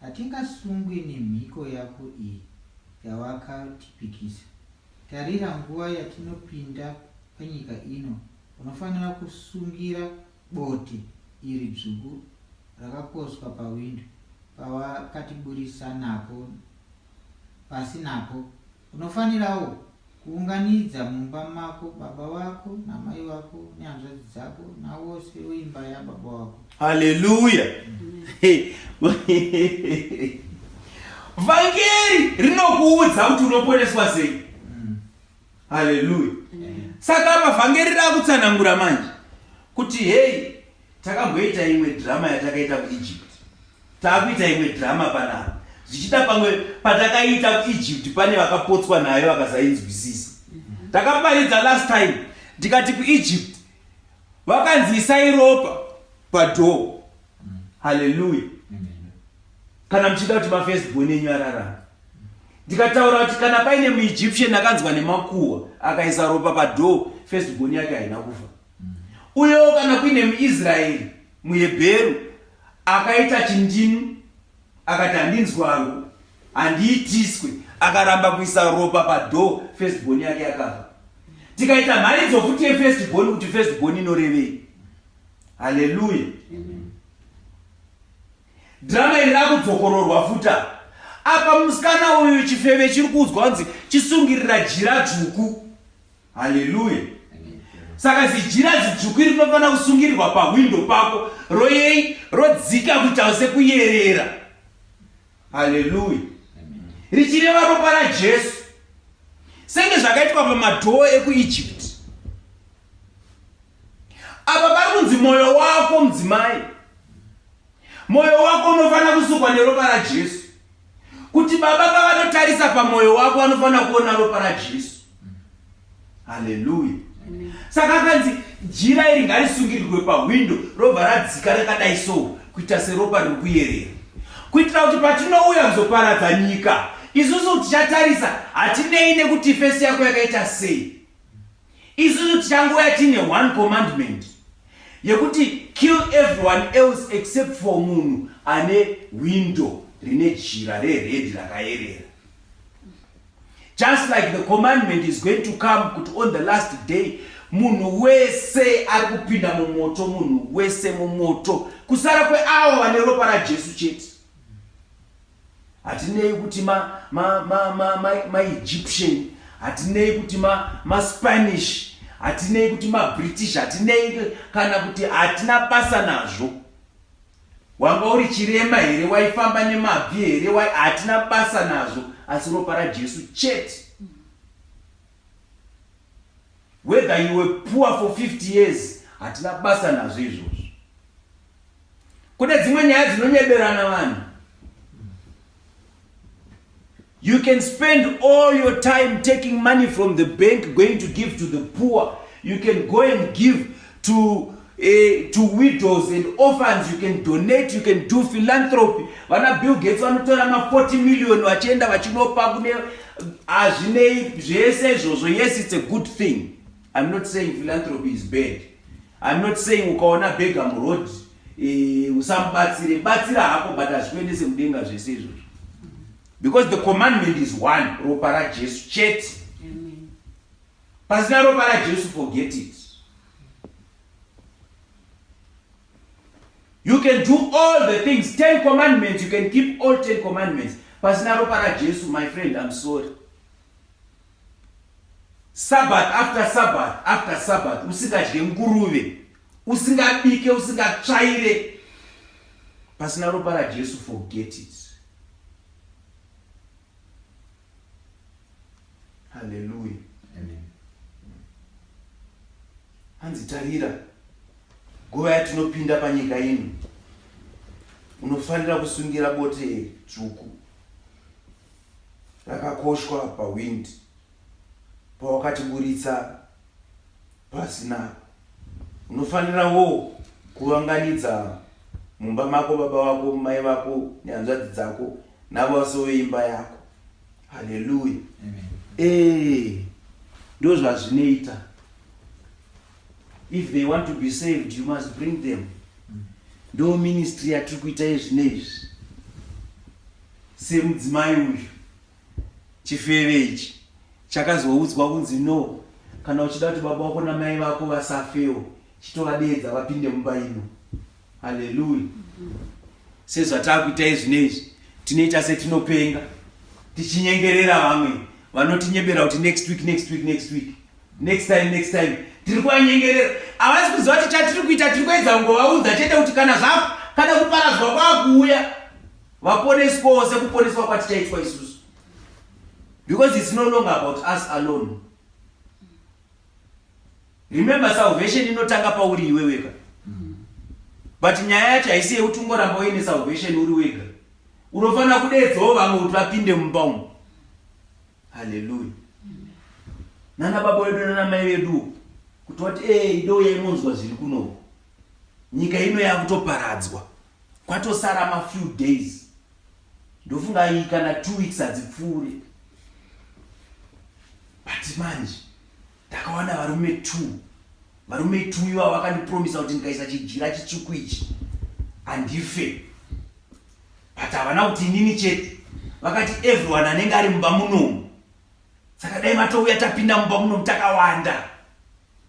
Hatingasungwi nemhiko yako iyi yawakatipikisa. Tarira nguva yatinopinda panyika ino, unofanira kusungira bote iri dzvuku rakakoswa pawindo pawakatiburitsa napo pasi napo Unofanirawo kuunganidza mumba mako baba vako namai vako nehanzvadzi dzako navose veimba yababa vako. Haleluya! Vhangeri rinokuudza kuti unoponeswa sei. Mm. Haleluya! Saka apa vhangeri rakutsanangura manje kuti hei Takamboita imwe drama yatakaita kuEgypt. Takuita imwe drama panapa. Zvichida pamwe patakaita kuEgypt pane vakapotswa nayo vakasainzwisisa. Takaparidza last time ndikati kuEgypt vakanzi isai ropa padoor. Hallelujah. Kana muchida kuti mafirst born enyu ararama ndikataura kuti kana paine muegyptian akanzwa nemakuhwa akaisa ropa padoo festbon yake haina kufa Uyewo kana kuine muIsraeri, muHebheru, akaita chindinu akati handinzwi hangu, handiitiswe, akaramba kuisa ropa padhoo, first born yake yakafa. Tikaita mharidzo futi yefirst born kuti first born inorevei? Haleluya! Drama iri rakudzokororwa futa apa musikana uyu chifeve chiri kuudzwa kunzi chisungirira jira dzvuku haleluya saka zijira zidzvuku iri rinofanira kusungirirwa pahwindo pako royei rodzika kuitawo sekuyerera haleluya richireva ropa rajesu senge zvakaitwa pamadhoo ekuegypt apa pari kunzi mwoyo wako mudzimai mwoyo wako unofanira kusukwa neropa rajesu kuti baba pavanotarisa pamoyo wako vanofanira kuona ropa rajesu haleluya saka akanzi jira iri ngarisungirirwe pahwindo robva radzika rakadai so kuita seropa riri kuyerera kuitira kuti patinouya kuzoparadza nyika isusu tichatarisa hatinei nekuti fesi yako yakaita sei Isusu tichangouya tine one commandment yekuti kill everyone else except for munhu ane window rine jira reredi rakayerera just like the commandment is going to come kuti on the last day munhu wese ari kupinda mumoto munhu wese mumoto kusara kweavo vane ropa rajesu chete hatinei kuti ma ma ma ma ma ma egyptian hatinei kuti ma ma spanish hatinei kuti ma british hatinei kana kuti hatina basa nazvo wanga uri chirema here waifamba nemabvi here wai hatina basa nazvo asi ropa rajesu chete whether you were poor for 50 years hatina basa nazvo izvozvo Kune dzimwe nyaya dzinonyeberana vanhu. You can spend all your time taking money from the bank going to give to the poor. You can go and give to eh, to widows and orphans you can donate you can do philanthropy vana bill gates vanotora ma 40 million vachienda vachinopa kune hazvinei zvese izvozvo yes it's a good thing i'm not saying philanthropy is bad I'm not saying ukaona bega muroad eh, usamubatsire batsira hako but hazvikuendese mudenga zvese izvozvo because the commandment is one ropa rajesu chete pasina ropa rajesu forget it you can do all the things ten commandments you can keep all ten commandments pasina ropa rajesu my friend i'm sorry Sabbath after Sabbath after Sabbath usingadye nguruve, usingabike, usingatsvaire pasina ropa raJesu, forget it. Hallelujah. Amen. Hanzi tarira nguva yatinopinda panyika ino unofanira kusungira bote dzvuku rakakoshwa pawind pawakatiburitsa pasi nako unofanira wo kuvanganidza mumba mako baba vako mai vako nehanzvadzi dzako navo vasove imba yako haleluya ee ndo zvazvinoita if they want to be saved you must bring them ndo ministry yatiri kuita izvino izvi semudzimai uyu chifeve ichi chakazoudzwa kunzi no kana uchida kuti baba wako namai vako vasafewo chitovadeedza vapinde mumba ino haleluya sezvatakuita izvi neizvi tinoita setinopenga tichinyengerera vamwe vanotinyebera kuti next week next week next week next time next time tiri kuvanyengerera havasi kuziva kuti chatiri kuita tiri kuedza kungovaudza chete kuti kana zvako kana kuparadzwa kwakuuya vaponeswawo sekuponeswa kwatichaitwa isusu because its no longer about us alone remember salvation inotanga pauri iwe wega but nyaya yacho haisi yekuti ungoramba uine salvation uri wega unofanira kudedzawo vamwe kuti vapinde mumba umu haleluya nana baba wedu nana mai vedu kuti wati e eh, ido yainonzwa zviri kunoku nyika ino yakutoparadzwa kwatosara ma few days ndofunga iyi kana two weeks hadzipfuure but manje ndakawana varume two varume two iva vakandipromisa kuti ndikaisa chijira chitsvuku ichi handife but havana kuti inini chete vakati everyone anenge ari mumba munomu saka dai matouya tapinda mumba munomu takawanda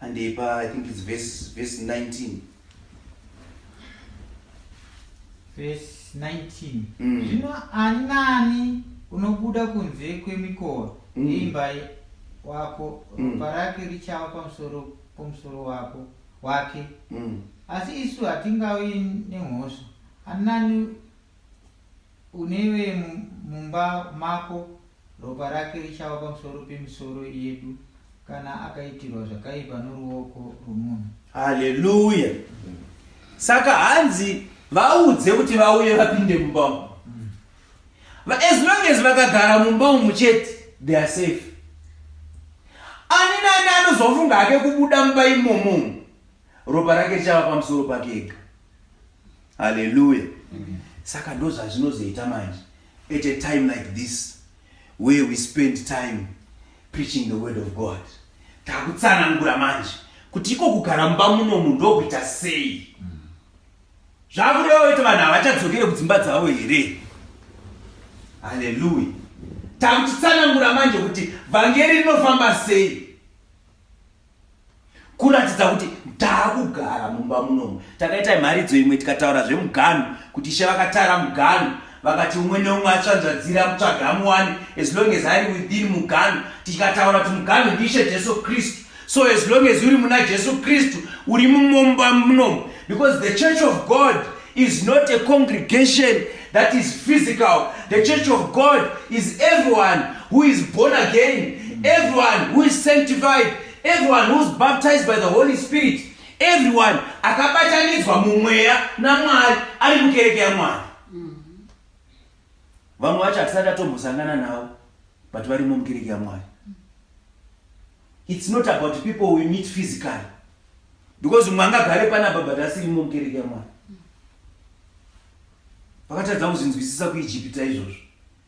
and they buy, I think it's verse, verse 19. Verse 19. Mm. Zvino ani naani unobuda kunze kwemikova mm. yeimba wako mm. ropa rake richava pamusoro pomusoro wako wake mm. asi isu hatingavi nemhosva ani naani Uneiwe mumba mako ropa rake richava pamusoro pemisoro yedu kana akaitirwa zvakaipa noruoko rwomunhu. Haleluya. Saka hanzi vaudze kuti vauye vapinde mumba umu. But as long as vakagara mumba umu chete they are safe. Ani nani anozofunga hake kubuda mumba imomo ropa rake richava pamusoro pake ega. haleluya saka ndo zvazvinozoita manje at a time like this where we spend time preaching the word of god takutsanangura manje kuti iko kugara mumba munomu ndokuita sei zvakureva kuti vanhu havachadzokere kudzimba dzavo here haleluya takutitsanangura manje kuti vhangeri rinofamba sei kuratidza kuti taakugara mumba munomu takaita mharidzo imwe tikataura zvemuganhu kuti ishe vakatara muganhu vakati umwe neumwe atsvanzvadzira kutsvaga amuwani as long as ari within muganhu tikataura kuti muganhu ndiishe jesu kristu so as long as uri muna jesu kristu uri mumumba munomu because the church of god is not a congregation that is physical the church of god is everyone who is born again everyone who is sanctified everyone who is baptized by the holy spirit everyone akabatanidzwa mumweya namwari ari mukereke yamwari vamwe vacho hatisati atombosangana navo but varimo mukereke yamwari It's not about people we meet physically. Because mumwe angagare panapa but asiri mukereke yaMwari. Vakatadza kuzvinzwisisa kuIjipita izvozvo.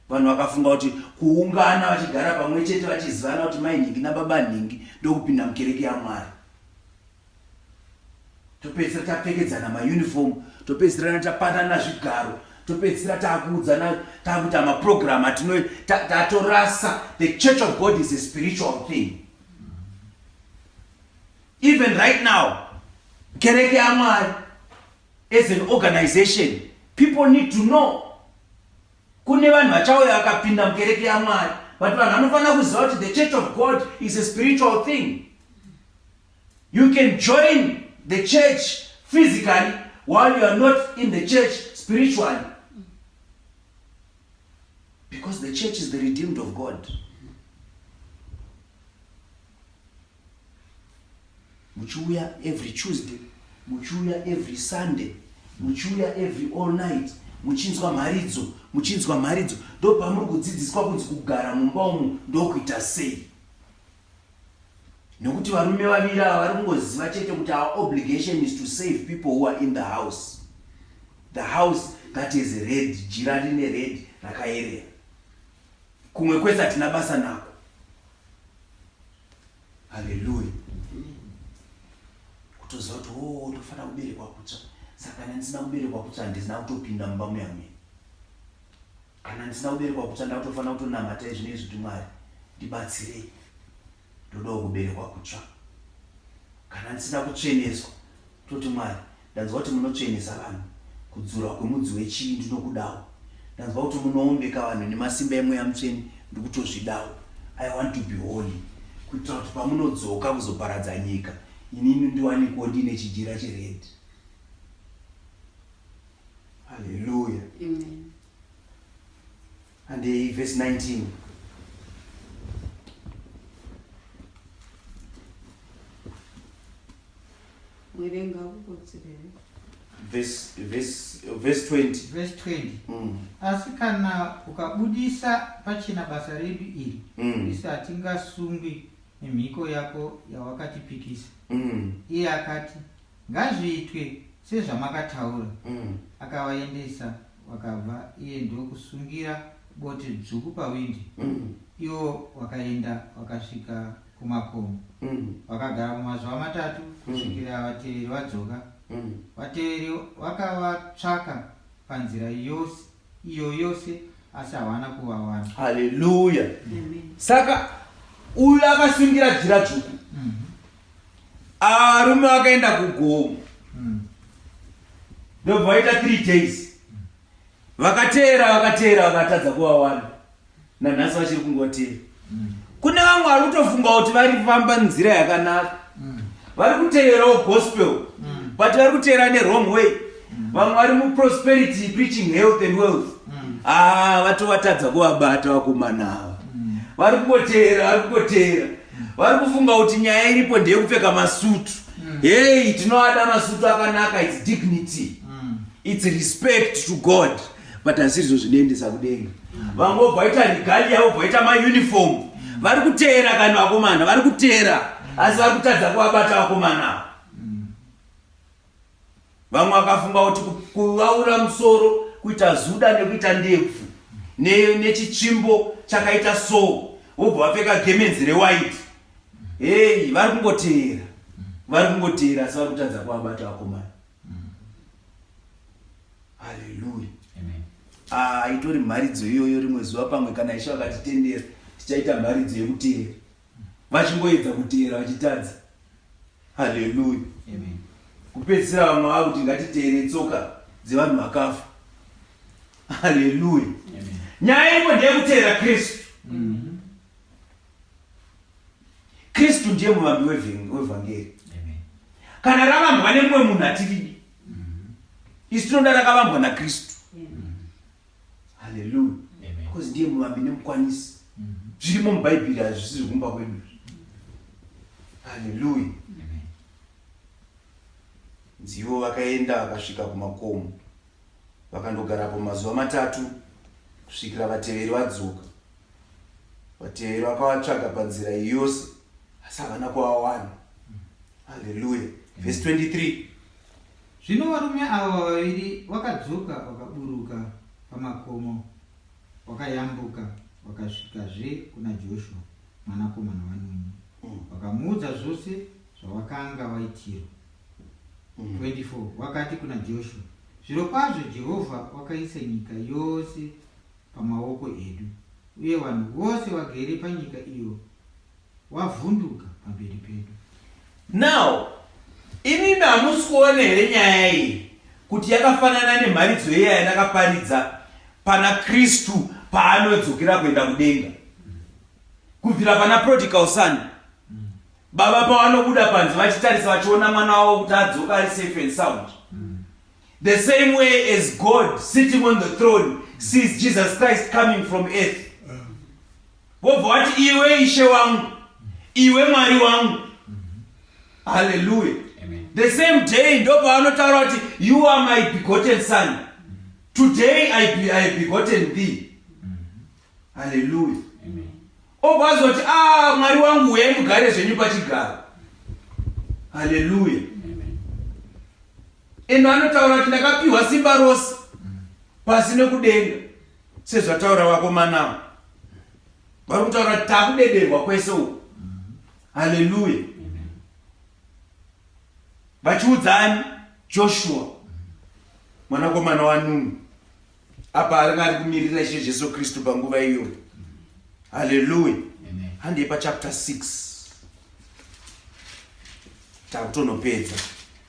Vanhu vakafunga kuti kuungana vachigara pamwe chete vachizivana kuti mai nhingi nababa nhingi ndokupinda mukereke yaMwari. topedzisira tapfekedzana mauniform topedzisirana tapanana zvigaro topedzisira taakuudzana taakuita maprogram atino tatorasa the church of god is a spiritual thing even right now kereke yamwari as an organization people need to know kune vanhu vachauya vakapinda mukereke yamwari but vanhu vanofanira kuziva kuti the church of god is a spiritual thing You can join the church physically while you are not in the church spiritually. Because the church is the redeemed of God. Muchuya every Tuesday, muchuya every Sunday, muchuya every all night, muchinzwa mharidzo, muchinzwa mharidzo. Ndopamuri kudzidziswa kunzi kugara mumba umu ndokuita sei. nekuti varume vaviri ava vari kungoziva chete kuti our obligation is to save people who are in the house the house that is red jira rine red rakayerera kumwe kwese hatina basa nako haleluya kutoziva kuti o oh, tofanira kuberekwa kutsva saka kana ndisina kuberekwa kutsva handisina kutopinda mumba muyamwini kana ndisina kuberekwa kutsva ndakutofanira kutonamata izvi nezvi kuti mwari ndibatsirei ndodawo kuberekwa kutsva kana ndisina kutsveneswa toti mwari ndanzwa kuti munotsvenesa vanhu kudzura kwemudzi wechii ndinokudawo ndanzwa kuti munoombeka vanhu nemasimba emweya mutsveni ndikutozvidawo i want to be holy kuitira kuti pamunodzoka kuzoparadza nyika inini ndiwanikowo ndiine chijira cheredi Hallelujah. Amen. And the verse 19. Verse, verse, verse 20. Verse 20. Mm. Asi kana ukabudisa pachena basa redu iri, mm. isu hatingasungwi nemhiko yako yawakatipikisa. Mm. Iye akati, Ngazviitwe sezvamakataura. Mm. Akavaendesa vakabva iye ndokusungira bote dzvuku pawindi. Mm. Iwo wakaenda wakasvika kumakomo. Mm. Wakagara mumazuva matatu mm. kusvikira vateveri vadzoka. Mm. Vateveri wakavatsvaka panzira yose iyo yose asi hawana kuvawana haleluya saka uyu akasungira jira dzvuku mhm. arume akaenda kugomo mhm. ndobva vaita three days vakateera vakateera vakatadza kuvawana nanhasi vachiri kungotera mm. kune vamwe vari kutofunga kuti vari kufamba nzira yakanaka mm. vari kuteerawo gospel mm. but vari kuteera newrong way mm. vamwe vari muprosperity preaching health and wealth mm. ah, vatovatadza kuvabata vakomanaava mm. vari kungoteera vari kungoteera mm. vari kufunga kuti nyaya iripo ndeyekupfeka masutu mm. hei tinovada masutu akanaka its dignity mm. its respect to god mm. but hazizvo zvinoendesa kudenga vamwe vobva vaita rigali yavo bvaita mauniform vari kuteera kani vakomana vari kuteera asi vari kutadza kuvabata vakomana avo vamwe vakafunga kuti kuvaura musoro kuita zuda nekuita ndebvu nechitsvimbo chakaita so vobva vapfeka gemenzi rewhite heyi vari kungoteera vari kungoteera asi vari kutadza kuvabata vakomana Haleluya. Amen. Ah, itori mharidzo iyoyo rimwe zuva pamwe kana Ishe vakatitendera tichaita mharidzo yekuteera. Vachingoedza kuteera vachitadza. Haleluya. Amen. Kupedzisira vamwe vava kuti ngatiteere tsoka dzevanhu vakafa. Haleluya. Amen. Nyaya iripo ndeyekuteera Kristu. Mm. kristu ndiye muvambi wevhangeri kana ravambwa nemumwe munhu atiridi mm-hmm. isu tinoda rakavambwa nakristu mm-hmm. haleluya because ndiye muvambi nemukwanisi mm-hmm. zvirimo mubhaibheri hazvisi zvekumba kwedu haleluya nzivo vakaenda vakasvika kumakomo vakandogarapo mazuva matatu kusvikira vateveri vadzoka vateveri vakavatsvaga panzira yose asi havana kuvawana haleluya vhesi 23 zvino varume avo vaviri vakadzoka vakaburuka pamakomo vakayambuka vakasvikazve kuna joshua mwanakomana wanuni mm. vakamuudza zvose zvavakanga vaitirwa 24 mm. vakati kuna joshua zvirokwazvo jehovha wakaisa nyika yose pamaoko edu, uye vanhu vose vagere panyika iyo wavhunduka pamberi pedu. Now, imimi hamusi kuona here nyaya iyi kuti yakafanana nemharidzo iya yandakaparidza pana Kristu paanodzokera kuenda kudenga? Kubvira pana prodigal son, baba pavanobuda panze vachitarisa vachiona mwana wavo kuti adzoka ari safe and sound, The same way as God sitting on the throne sees Jesus Christ coming from earth. Wobva wati iwe ishe wangu, iwe Mwari wangu. Hallelujah. The same day ndopaanotaura kuti you are my begotten son. Today I be, I begotten thee. Hallelujah. Obva azoti ah Mwari wangu uye mugare zvenyu pachigaro. Hallelujah. Eno anotaura kuti ndakapiwa simba rose pasi nekudenga sezvataura vakomanawo vari kutaura kuti takudederwa kwese uku haleluya vachiudzani joshua mwanakomana wanunu apa aringa ari kumirira ishe jesu kristu panguva iyoyo haleluya handei pachapter 6 takutonopedza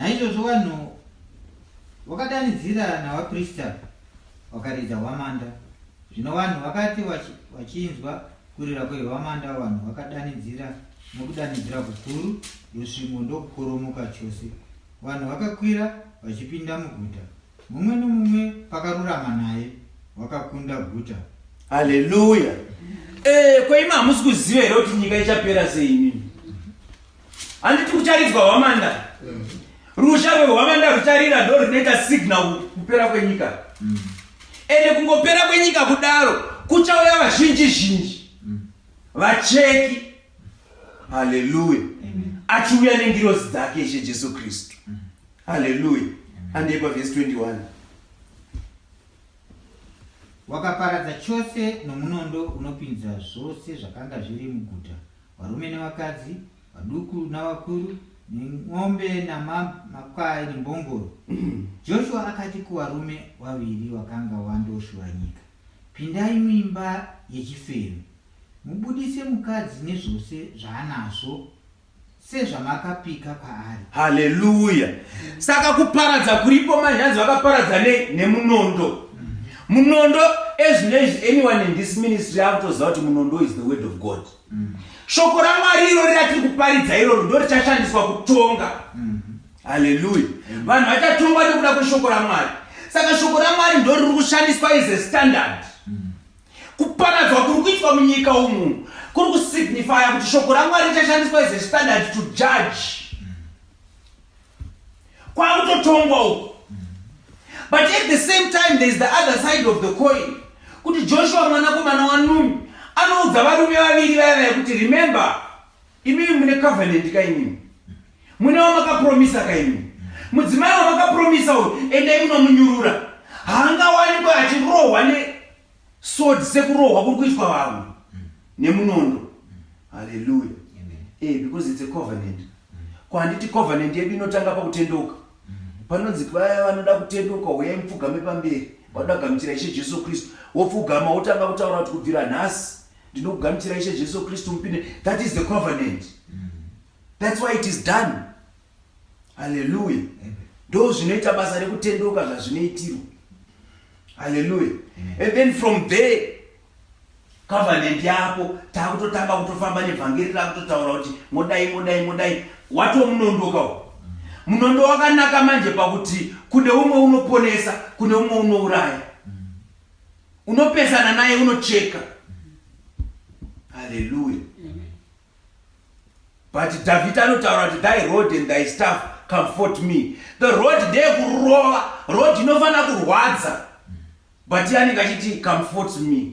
Naizvozvo vanhu vakadanidzira navaprista vakaridza hwamanda. Zvino vanhu vakati vachinzwa kurira kwehwamanda, vanhu vakadanidzira nokudanidzira kukuru, rusvingo ndokukoromoka chose. Vanhu vakakwira vachipinda muguta, mumwe nomumwe pakarurama naye wakakunda guta. Haleluya! Eh, kweima hamusi kuziva here kuti nyika ichapera sei imimi? handiti kucharidzwa hwamanda mm. rusha rwehwamanda rucharira ndo rinoita signal kupera kwenyika mm. ende kungopera kwenyika kudaro kuchauya vazhinji zhinji mm. vacheki haleluya achiuya nengirozi dzake ishe jesu kristu haleluya handei pavhesi 21 wakaparadza chose nomunondo unopinza zvose zvakanga zviri muguta varume nevakadzi vaduku navakuru nen'ombe namakwai nembongoro joshua akati kuvarume vaviri vakanga vandoshura nyika pindai muimba yechifero mubudise mukadzi nezvose zvaanazvo sezvamakapika kwaari haleluya saka kuparadza kuripo manyanzi vakaparadza nei nemunondo mhm. munondo ezvinezvi anyone in this ministry akutoziva kuti munondo is the word of god mm. shoko ramwari irori ratiri kuparidza iroro ndo richashandiswa kutonga mm. haleluya vanhu vachatongwa nekuda kweshoko ramwari saka shoko ramwari ndo riri kushandiswa as a standard mm. kuparadzwa kuri kuitwa munyika umu kuri kusignifya kuti shoko ramwari richashandiswa as a standard to judge kwakutotongwa uko but at the same time there is the other side of the coin kuti joshua mwanakomana wanumi anoudza varume vaviri vaya vaya kuti remember imimi mune covenant kaimimi mune wamakapromisa kaimimi mudzimai wamakapromisa uyu endai munomunyurura haangawanikwe achirohwa ne sword sekurohwa kuri kuitwa vamwe nemunondo haleluya eh because it's a covenant ko handiti covenant yedu inotanga pakutendeuka panonzi vaya vanoda kutendeuka huyai mupfugame pamberi vanoda kugamuchira ishe jesu kristu wopfugama wotanga kutaura kuti kubvira nhasi ndinokugamuchira ishe jesu kristu mupinde that is the covenant that's why it is done haleluya ndo zvinoita basa rekutendeuka zvazvinoitirwa haleluya and then from there covenant yako takutotanga kutofamba nevhangeri rakutotaura kuti modai modai modai watomunondoka u munondo wakanaka manje pakuti kune umwe unoponesa kune umwe unouraya unopesana naye unocheka haleluya but davhidha anotaura kuti thy road and thy staff comfort me the road ndeye kurova road inofanira kurwadza but iye anenge achiti comfort me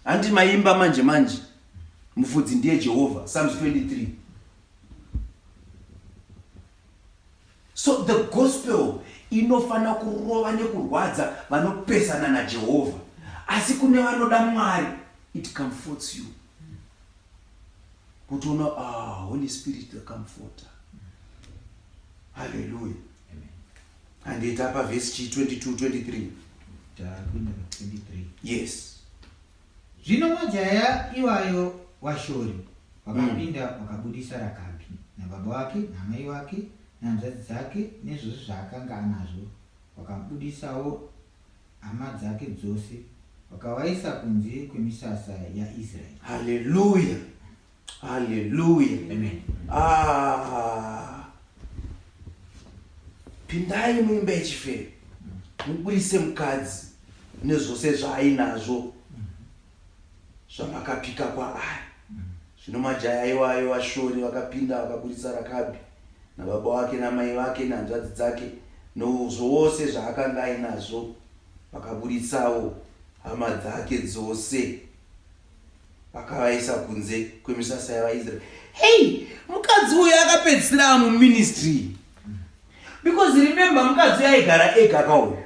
handi maimba manje manje mufudzi ndiye jehovha psalms 23 so the gospel inofanira kurova nekurwadza vanopesana najehovha asi kune vanoda mwari it comforts you kutoona ah, holy spirit the comforter haleluya handiita pa vhesi chi 22 23 takuenda pa 23 yes zvino majaya iwayo washori wakapinda mm. wakabudisa rakabi nababa wake namai wake nanzvadzi dzake nezvose zvaakanga anazvo wakabudisawo Hama dzake dzose vakawaisa kunze kwemisasa yaIsraeri. Haleluya. Haleluya. Amen. Ah. Pindai muimba yechifero. Mubudise mukadzi nezvose zvaainazvo. zvamakapika kwaari zvino majaya iwayo vashori vakapinda vakaburitsa rakabi nababa wake namai vake nehanzvadzi dzake nozvose zvaakanga ainazvo vakaburitsawo hama dzake dzose vakavaisa kunze kwemisasa yavaisraeri hei mukadzi uyo akapedzisira muministry because remember mukadzi uyo aigara ega kauya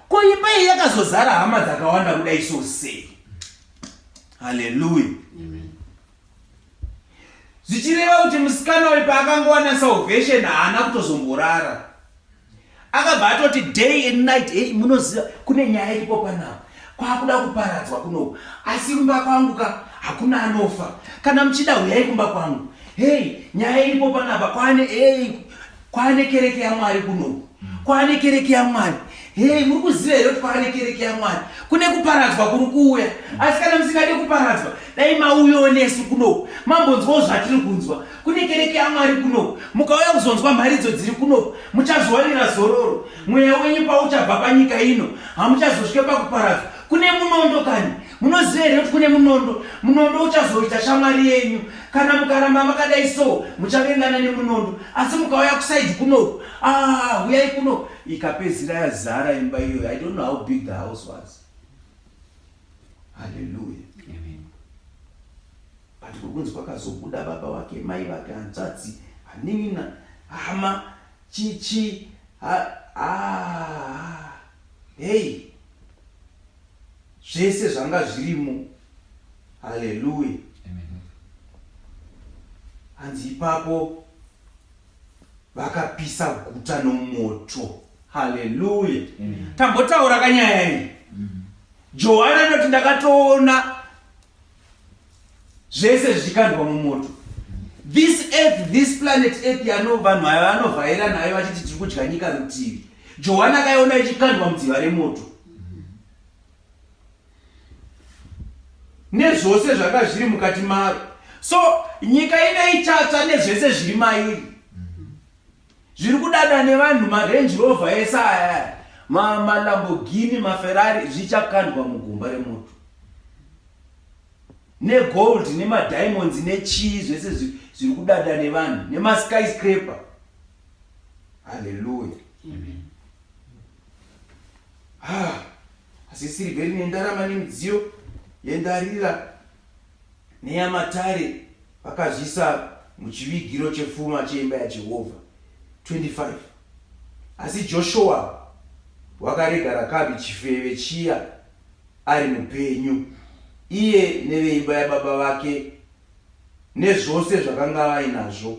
ko imba iyi yakazozara hama dzakawanda kuda iso sei haleluya zvichireva kuti musikana uyu paakangowana salvation haana kutozomborara akabva atoti day and night hey, munoziva kune nyaya iripo panapa kwakuda kuparadzwa kunoku asi kumba kwangu ka hakuna anofa kana muchida huyai kumba kwangu hei nyaya iripo panapa kwane hei kwane kereke yamwari kunoku kwane kereke yamwari hei muri kuziva here kuti kwane kereke yamwari kune kuparadzwa kuri kuuya asi kana musingade kuparadzwa dai mauyawo nesu kunoku mambonzwawo zvatiri kunzwa kune kereke yamwari kunoku mukauya kuzonzwa mharidzo dziri kunoku muchazowanira zororo mweya wenyu pauchabva panyika ino hamuchazosvike pakuparadzwa kune munondo kani munoziva here kuti kune munondo munondo uchazoita shamwari yenyu kana mukaramba makadai so muchavengana nemunondo asi mukauya kusaidi kunoku ah, huyai kuno ikapedzira yazara imba iyoyo i don't know how big the house was haleluya but kukunzi kwakazobuda baba wake mai vake hanzvadzi hanin'ina hama Chichi ha ah hey zvese zvanga zvirimo haleluya hanzi ipapo vakapisa guta nomoto haleluya tambotaura kanyaya iyi mm. johani anoti ndakatoona zvese zvichikandwa mumoto this earth this planet earth yano vanhu aya vanovhaira nayo vachiti tiri kudya nyika rutivi johani akaiona ichikandwa mudziva remoto nezvose zvanga zviri mukati maro so nyika ine ichatsva nezvese zviri mairi Zviri kudada nevanhu marange rover ese aya malamborghini maferrari zvichakandwa mugomba remoto negold nemadiamonds nechii zvese zviri kudada nevanhu nemaskyscraper halleluya ah, asi sirivheri nendarama nemidziyo yendarira Neyamatare vakazvisa muchivigiro chefuma cheimba yaJehovha 25 asi Joshuwa wakarega Rakabi chifeve chiya ari mupenyu iye neveimba yababa vake nezvose zvakanga vainazvo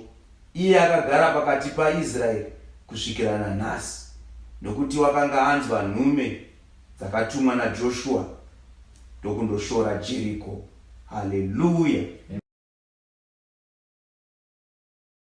iye akagara pakati paIsraeri kusvikira nanhasi nokuti wakanga anzwa nhume dzakatumwa naJoshua ndokundoshora Jeriko. Haleluya!